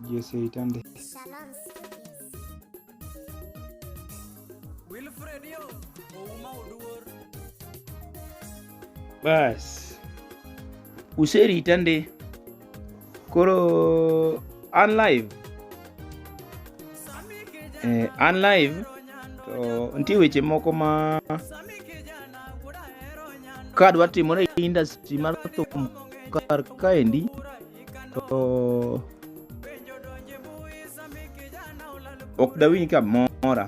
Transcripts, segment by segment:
Jesse Itande. Shalom Studios. Wilfred yo, ouma oduor. Bas. Useri Itande. Koro an live. Eh, an live to nitie weche moko ma kadwa timore e industry mar thum kar kaendi to ok dawinj kamora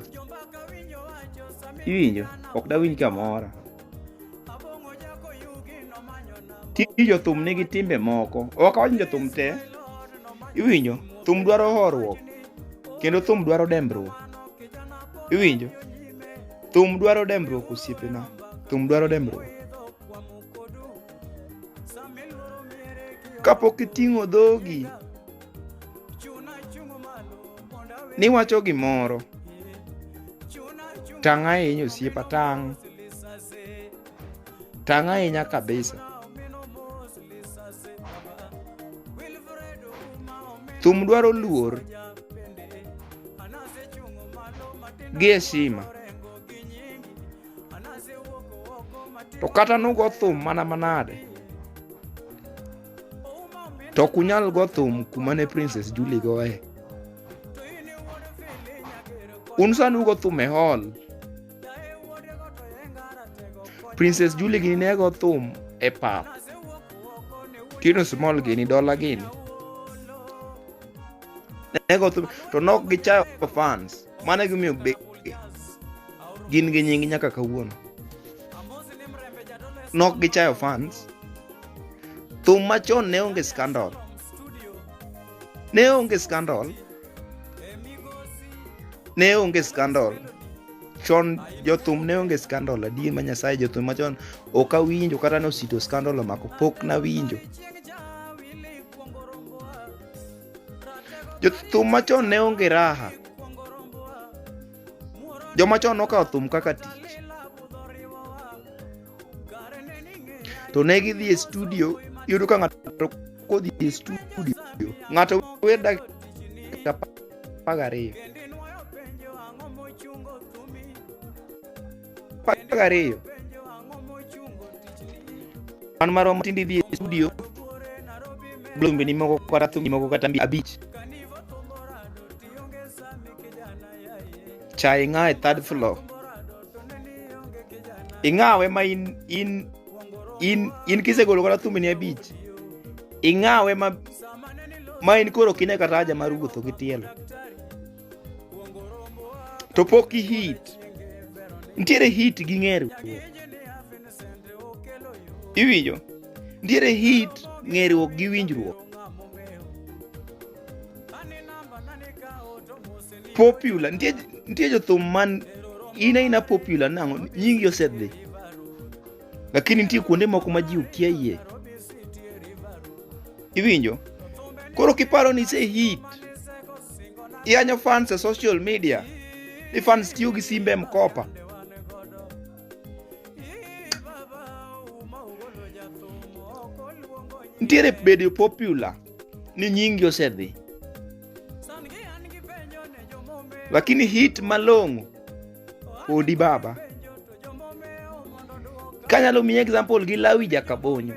iwinjo ok dawinj kamora tij jothum nigi timbe moko ok awach ni jothum te iwinjo thum dwaro horuok kendo thum dwaro dembruok iwinjo thum dwaro dembruok osiepena thum dwaro dembruok Kapok iting'o dhogi niwacho gimoro, tang' ahinya osiepa, tang'. Tang' ahinya kabisa. Thum dwaro luor gi heshima. to kata nugo thum mana manade to ok unyal go thum kuma ne princess julie goye un sani ugo thum e hall princess julie gini ne go thum e pap tino small gini dola gini ne go thum to nok gichayo fans Mano e gimomiyo be gin gi nying nyaka kawuono. Nok gichayo fans. Thum machon ne onge skandal. Ne onge skandal. Ne onge skandal. Chon jothum ne onge skandal adier ma Nyasaye jothum machon ok awinjo kata ne osito skandal omako pok nawinjo. Jothum machon ne onge raha. Joma chon nokawo thum kaka tich. To ne gidhi e studio, iyudo ka ng'ato kodhi e studio, ng'ato wer dakika apar gariyo. Paka ariyo. An marom tindi dhi e studio. Blombe ni moko kata thumbi moko kata mbi abich. Cha ing'awe third floor. Ing'awe ma in in in in kisegolo kata thumbi ni abich. Ing'awe ma ma in koro kine kata aja mar wuotho gi tielo. to pok i hit nitiere hit gi ng'eru iwinjo nitiere hit ng'eruok gi winjruok popular nitie nitie jothum man in aina popular nang'o nyingi osedhi lakini nitie kuonde moko ma ji ukia yie iwinjo koro kiparo ni ise hit iyanyo fans e social media ni fans tiyo gi simbe mkopa nitiere bedo popular ni nyingi osedhi lakini hit malong'o odi baba kanyalo miyi example gi lawi jakabonyo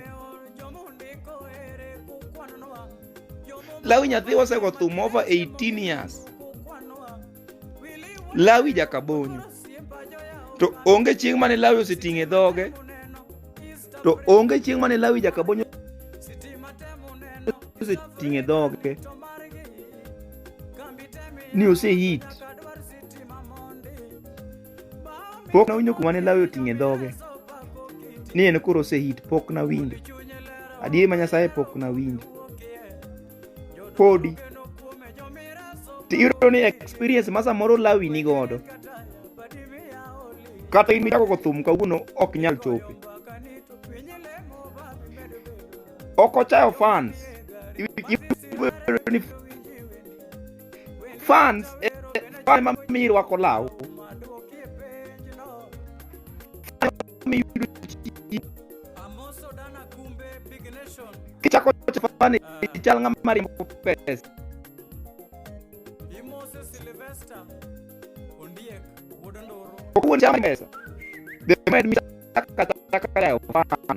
lawi nyathi osego thum over 18 years lawi jakabonyo to onge chieng' mane lawi oseting' e dhoge to onge chieng' mane lawi jakabonyo oseting' e dhoge ni osehit pok nawinjo kuma ne lawe oting'e dhoge ni en koro osehit pok nawinjo adier ma nyasaye pok nawinjo podi tiyudo ni experience ma samoro lawi ni godo kata in michako go thum kawuono ok nyal chope ok ochayo fans fans eh, eh, fans ema mi rwako law kichako chafani chal ng'ama riembo pesa Kundi chama pesa. Depois me saca, saca, saca,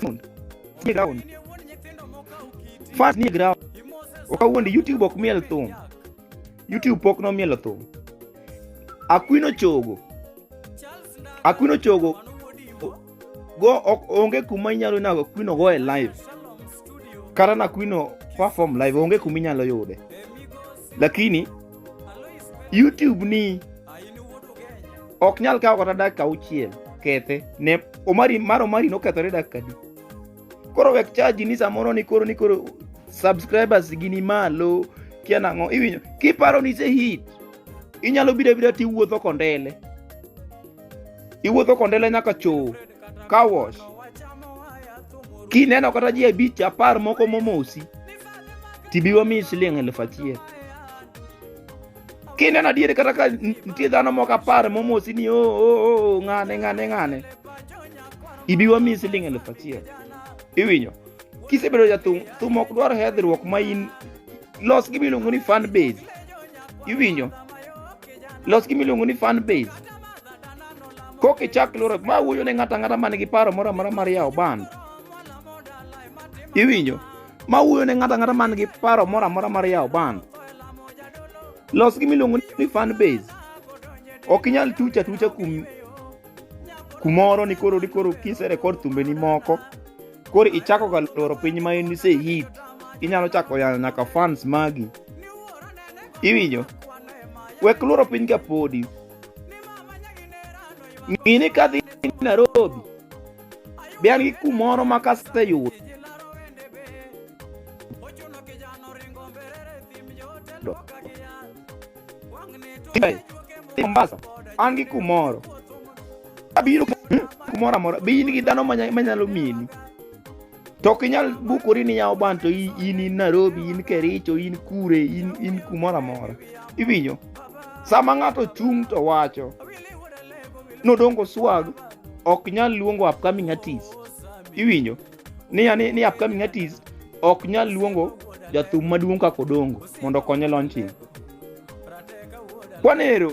ground. Ni ground. First ni ground. Okawuondi YouTube ok miel thum. YouTube pok nomielo thum. Akwino chogo. Akwino chogo go ok onge kuma inyalo na Akwino go e live. Kata na Akwino perform live onge kuma inyalo yude. Lakini YouTube ni ok nyal kawo kata dakika auchiel kethe ne omari mar omari nokethore dakika di koro wek chaji ni samoro ni koro ni koro subscribers gi ni malo kia nang'o iwinjo kiparo ni se hit inyalo biro abira ti wuotho kondele iwuotho kondele nyaka choo car wash kineno kata ji abich apar moko momosi tibiwa mi siling' elfu achiel kineno adier kata ka nitie dhano moko apar momosi ni oo oh, oh, oh, ng'ane ng'ane ng'ane ibi wamiyi siling eluf achiel iwinyo kisebedo jathum thum ok dwar hedhruok ma in los gi miluongo ni fan base iwinyo los gi miluongo ni fan base kok ichak loro ma wuoyo ne ng'ato ang'ata man gi paro moro amora mar yawo band iwinyo ma wuoyo ne ng'ato ang'ata man gi paro moro amora mar yawo band los gi miluongo ni fan base ok inyal tuch atucha kum kumoro ni koro ni koro kise rekod thumbeni moko koro ichako ga loro piny ma in ise hit inyalo chako yano nyaka fans magi iwinjo wek loro piny ka podi ng'ini kadhi Nairobi Be an gi kumoro ma kaseyudo Mombasa an gi kumoro abiro kumoro amora be in gi dhano manyalo mini to ok inyal bukori ni yawo ban to in in Nairobi in Kericho in kure in in kumoro amora iwinjo sama ng'ato chung' to wacho nodongo swag ok nyal luongo upcoming artist iwinjo ni ni, ni upcoming artist ok nyal luongo jathum maduong' kaka odongo mondo okonye launching kwanero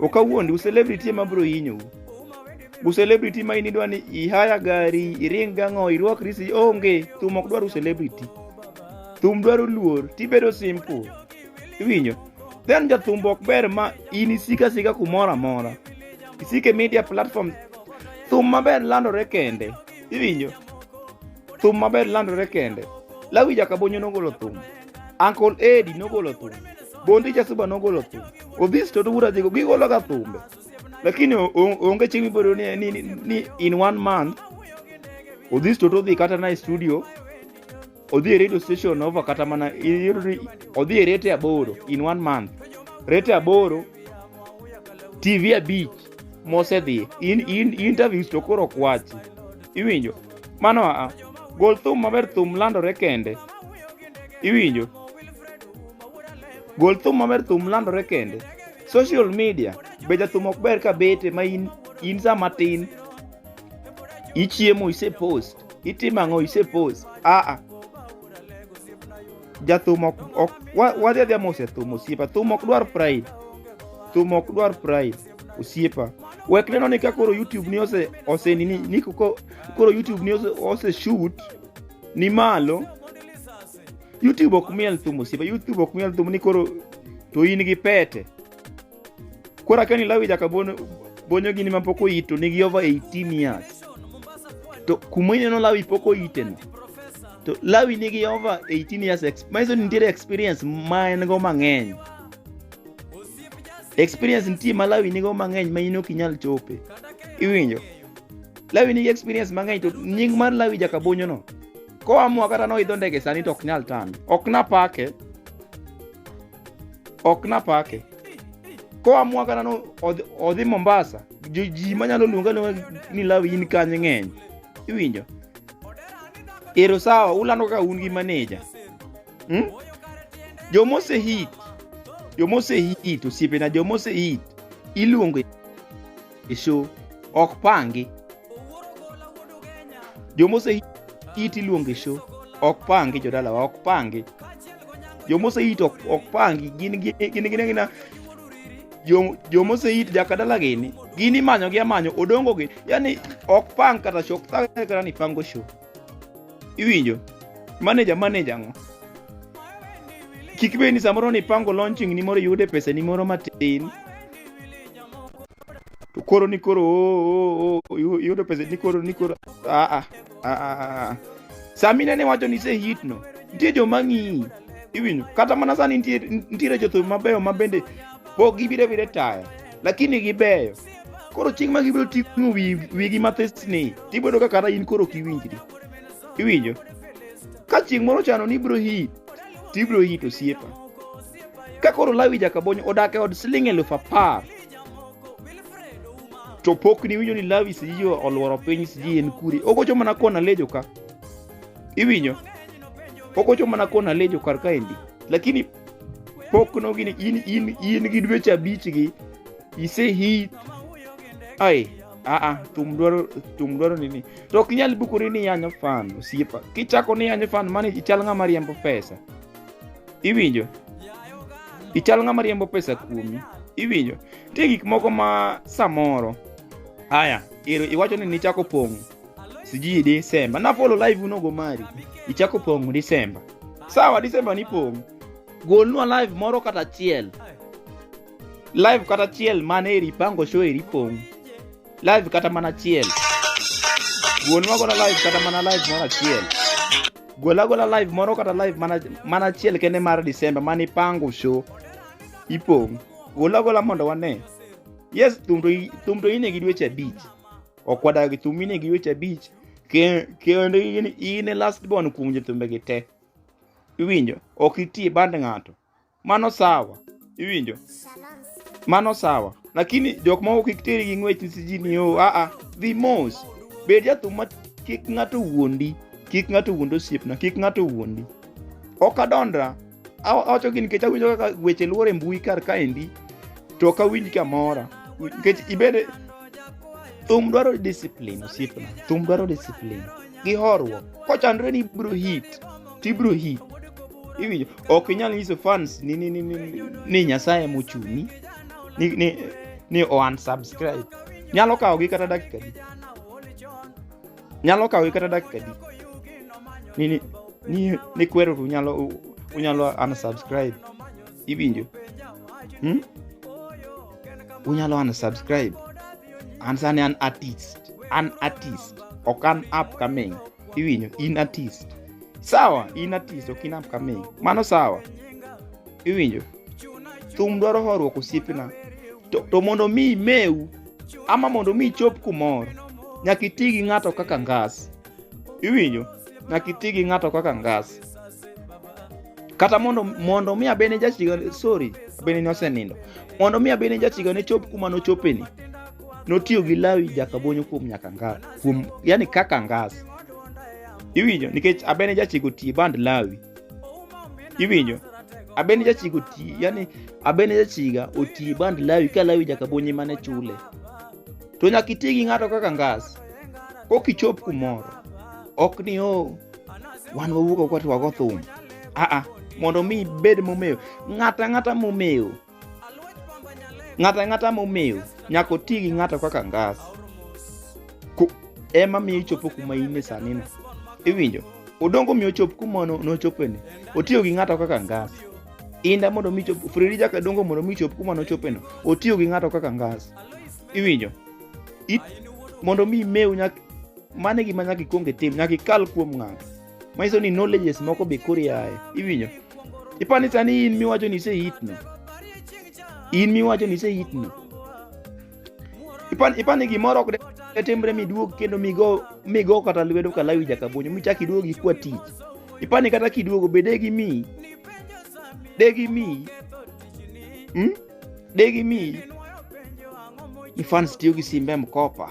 ok awuondi uselebrity ema bro yinyou uselebrity ma in idwa ni ihaya gari iring gang'o irwak risi onge thum ok dwar uselebrity thum dwaro luor tibedo simple iwinjo then jathumbo ok ber ma in isika sika kumoro amora isike media platform thum maber landore kende iwinjo thum maber landore kende lawi jakabonyo nogolo thum Uncle Eddie nogolo thumbe, Bondi Jasuba nogolo thumbe, Odhis Toto Bura Jigo gigologa thumbe. Lakini onge chieng' mibiro ni, ni, ni in one month Odhis Toto odhi kata na e studio odhi e radio station over kata mana odhi e rete aboro in one month rete aboro TV abich mosedhi in, in, interviews to koro kwachi iwinjo mano aa gol thum maber thum landore kende iwinjo gol thum maber thum landore kende social media be jathum ok ber ka bete ma in, in sa matin ichiemo ise post itimo ang'o ise post aa jathum ok, ok wadhi adhiya mos e thum osiepa thum ok dwar pride thum ok dwar pride osiepa wek neno ni ka koro youtube ni ose ose nini ni ko- koro youtube ni ose, ose shoot ni malo youtube ok miel thum osiepa youtube ok miel thum ni koro to in gi pete koro akani lawi jaka bono bonyo gini ma pok oyito nigi over 18 years to kuma ineno lawi pok oyiteno to lawi nigi over 18 years ex- manyiso ni nitiere experience ma en go mang'eny experience nitie ma lawi nigo mang'eny ma in ok inyal chope iwinjo lawi nigi experience mang'eny to nying mar lawi jakabonyono koamua kata noidho ndege sani to ok nyal tame ok napake ok napake koamua kata no odhi- odhi mombasa jo- ji manyalo luonga luonga ni lawi in kanye ng'eny iwinjo ero sawa ulando kaka un gi maneja hmm? joma osehit joma osehit osiepena joma osehit iluongo e show ok pangi joma osehit iluongo e show ok pangi jodalawa ok pangi joma osehit ok pangi gin gin gin gina joma osehit jakadala gini gini manyo gi amanyo odongo gi yani ok pang kata show ok thagre kata ni pango show iwinjo manager manager ang'o kik bed ni samoro nipango launching ni moro iyude pesa ni moro matin to koro ni koro oh, oh, oh, iyu- iyudo pesa ni koro ni koro ah, ah, ah, ah, ah. sami nene wacho ni se hit no nitie joma ng'iyi iwinjo kata mana sani nitie- nitiere jothum mabeyo ma bende pok gibire bire taya lakini gibeyo koro chieng' ma gibiro ting'o wigi mathis ni tibedo ka kata in koro kiwinjri iwinjo ka chieng' moro chano ni ibiro hit tibiro hit osiepa ka koro lawi jakabonyo odak e od siling' elufu apar to pok ni winjo ni lawi siji olworo piny siji en kure ogocho mana kona lejo ka iwinjo ogocho mana kona lejo kar kaendi lakini pokno gini in in in gi dweche abich gi ise hit ai aa thum dwaro thum dwaro nini to ok inyal bukori ni yanyo fan osiepa kichako ni yanyo fan mani ichal ng'ama riembo pesa iwinjo ichal ng'ama riembo pesa kuomi iwinjo nitie gik moko ma samoro haya ero iwacho ni nichako pong' sijui December na follow live unogo mari ichako pong' December sawa December ni pong' golnwa live moro kata chiel live kata chiel mane eri pango show eri pong' live kata mana chiel golnwa gola live kata mana live moro achiel gola gola live moro kata live mana mana achiel kende mar December mane ipango show ipong' gola gola mondo wane yes thum to i- thum to ine gi dweche abich ok wadag gi thum inegi weche abich kendo in e last born kuom jothumbegi te iwinjo ok itie band ng'ato mano sawa iwinjo mano sawa lakini jok ma ok ikteri gi ng'wech sijini o oh, aa dhi mos bed jathum ma kik ng'ato wuondi kik ng'ato wuond osiepna kik ng'ato wuondi ok adondra awacho gi nikech awinjo kaka weche luore mbui kar kaendi to ok awinj kamora nikech ibede thum dwaro discipline osiepna thum dwaro discipline gi horruok kochandre ni ibro hit to ibro hit iwinjo ok inyal nyiso fans ni, ni, ni, ni, ni, ni nyasaye emochuni ni, ni, ni o unsubscribe nyalo kawogi kata dakika di nyalo kawi kata dakika di ni ni ni, ni kwero to unyalo u- unyalo unsubscribe iwinjo hmm? unyalo unsubscribe an sani an artist an artist ok an upcoming iwinjo in artist sawa in artist ok in upcoming mano sawa iwinjo thum dwaro horuok osiepna to, to mondo mi imeu ama mondo mi ichop kumoro nyaka iti gi ng'ato kaka ngas iwinjo nyaka iti gi ng'ato kaka ngas kata mondo mondo mi abene jachiga sorry abene ni osenindo mondo mi abene jachiga ne chop kuma nochopeni notiyo gi lawi jakabonyo kuom nyaka ngas kuom yani kaka ngas iwinjo nikech abene jachiga otiye band lawi iwinjo abeni jachiga oti yani abeni jachiga oti band lawi ka lawi jakabonyi mane chule to nyaka iti gi ng'ato kaka ngas kok ichop kumoro ok ni o wan wawuok kwa to wago thum aa mondo mi ibed momewo ng'ata ng'ata momewo Ng'ato ang'ata momew nyaka oti gi ng'ato kaka ngas. Ku- Ema miyo ichopo kuma in e sani no. Iwinjo? Odongo miyo ochop kuma no- nochopeni. Otiyo gi ng'ato kaka ngas. Inda mondo mi chop Fredi Jaka Dongo mondo mi chop kuma nochopeno. Otiyo gi ng'ato kaka ngas. Iwinjo? It, mondo mi imew nyaka mano e gima nyaka ikwong itim nyaka ikal kuom ng'ato manyiso ni knowledges moko be koro iaye iwinjo ipani sani in miwacho ni isehitno in miwacho ni isehitno ipan ipani gimoro ok de timre miduog kendo migo migo kata lwedo kalawi jakabonyo michak iduog ikwa tich ipani kata kiduogo be degi mi degi mi hmm? degi mi ni fans tiyo gi simbe mkopa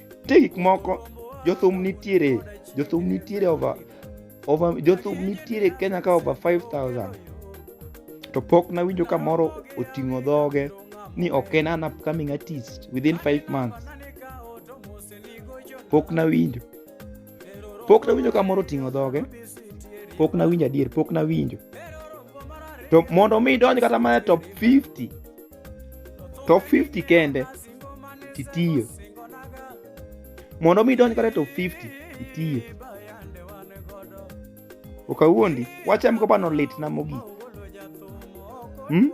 nitie gik moko jothum nitiere jothum nitiere over over jothum nitiere kenya ka over 5000 to pok nawinjo ka moro oting'o dhoge ni ok en an upcoming artist within 5 months pok nawinjo pok nawinjo ka moro oting'o dhoge pok nawinjo adier pok nawinjo to mondo mi idonj kata mana e top 50 top 50 kende titiyo mondo mi idonj kata top 50 itiyo okawuondi wacham ko bano litna mogik hmm?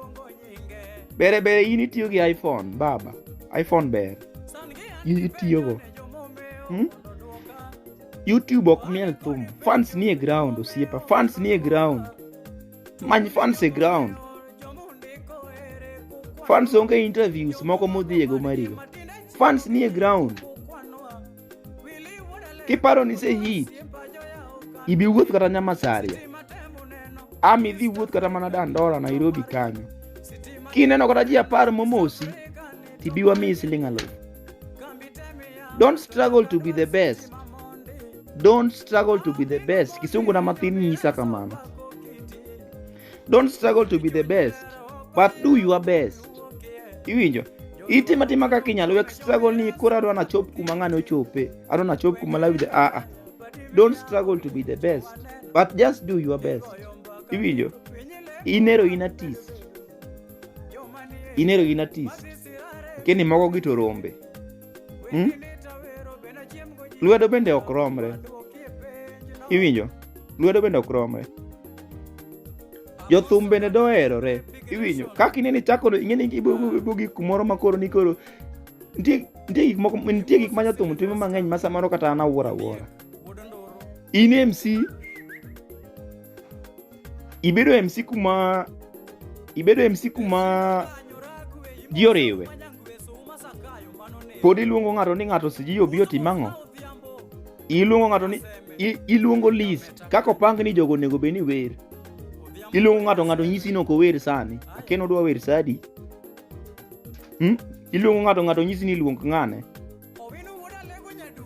bere bere in itiyo gi iphone baba iphone ber itiyogo hmm? youtube ok miel thum fans nie ground osiepa fans nie ground many fans e ground fans onge interviews moko modhiego marigo fans nie ground kiparo ni se hit ibi wuoth kata nyamasaria am idhi wuoth kata mana dandora nairobi kanyo kineno kata ji apar momosi tibiwa miyi siling alufu don't struggle to be the best Don't struggle to be the best. Kisungu na matini isa kamano. Don't struggle to be the best, but do your best. Iwinjo? Iti matima kaka inyalo wek struggle ni koro adwa nachop kuma ng'ane ochope. Adwa nachop kuma lawi the ah, ah. Don't struggle to be the best, but just do your best. Iwinjo? Inero in artist. Inero in artist. Keni mogo gi to rombe. hmm? lwedo bende ok romre iwinjo lwedo bende ok romre jothum bende doherore iwinjo kaka inene chako ing'e ni ibo gik kumoro ma koro ni koro nitie gik moko nitie gik ma jothum timo mang'eny ma samoro kata an awuoro awuora in MC ibedo e MC kuma ibedo e MC kuma ji oriwe pod iluongo ng'ato ni ng'ato siji obi otim ang'o iluongo ng'ato ni i- iluongo list kaka opang ni jogo onego bed ni wer iluongo ng'ato ng'ato nyisi ni ok ower sani aken odwa wer sadi hmm? iluongo ng'ato ng'ato nyisi ni luong ng'ane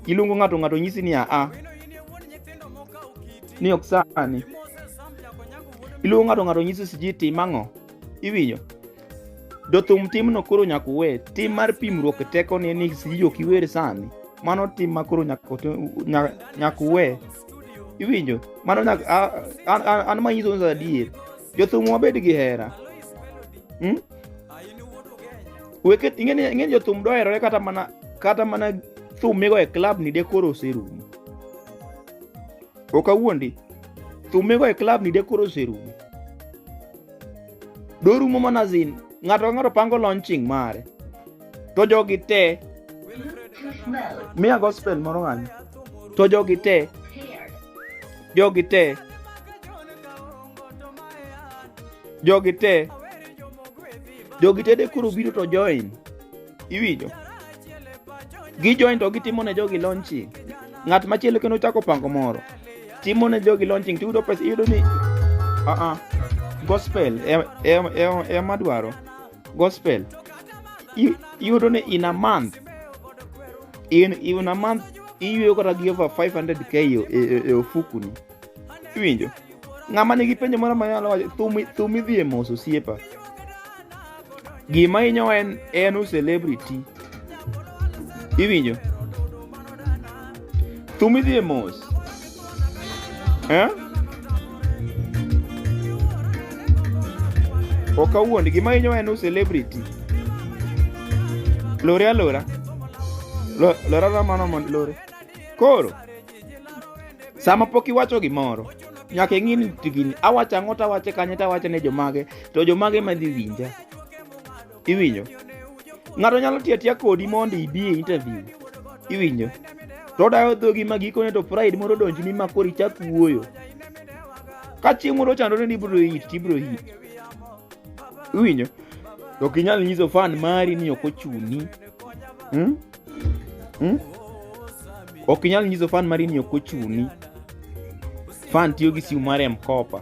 Iluongo ng'ato ng'ato nyisi ni aa ni ok sani. Iluongo ng'ato ng'ato nyisi siji tim ang'o? Iwinjo? Jothum timno koro nyaka uwe. Tim mar pimruok e teko ni ni siji ok iwer sani. Mano tim ma koro nyaka uwe. Iwinjo? Mano nyaka an ma nyiso adier. Jothum wabed gi hera. Hmm? weke ing'eni ing'eni jothum doherore kata mana kata mana thum migo e club ni de koro oserumo ok awuondi thum migo e club ni de koro oserumo dorumo mana zin ng'ato ka ng'ato pango launching mare to jogi te miya gospel moro ng'anyo to jogi te jogi te jogi te jogi tede koro biro to join iwinjo gi join to gitimo ne jogi launching ng'at machielo kendo chako pango moro timo ne jogi launching to yudo pesa iyudo ni uh -uh. gospel ema dwaro gospel iyudo ni in a month in, in a month iyueyo kata gi over 500k e ofukuni iwinjo ng'ama nigi penjo moro ma nyalo wacho thum idhi e mos osiepa gima hinyo en en u celebrity iwinjo thum idhi e mos eh? ok awuond gima hinyo en u celebrity lore alora lora ramano mond lore koro sama pok iwacho gimoro nyaka ing'i ni gini awacho ang'o tawache kanye tawache ne jomage to jomage madhi winja iwinjo ng'ato nyalo tiyo atiya kodi mondo ibi e interview iwinjo to odayo dhogi ma gikone to pride moro donjni ma koro ichak wuoyo ka chieng' moro chandore ni ibro hit to ibro hit iwinjo to ok inyal nyiso fan mari ni ok ochuni hmm? hmm? ok inyal nyiso fan mari ni ok ochuni fan tiyo gi simu mare mkopa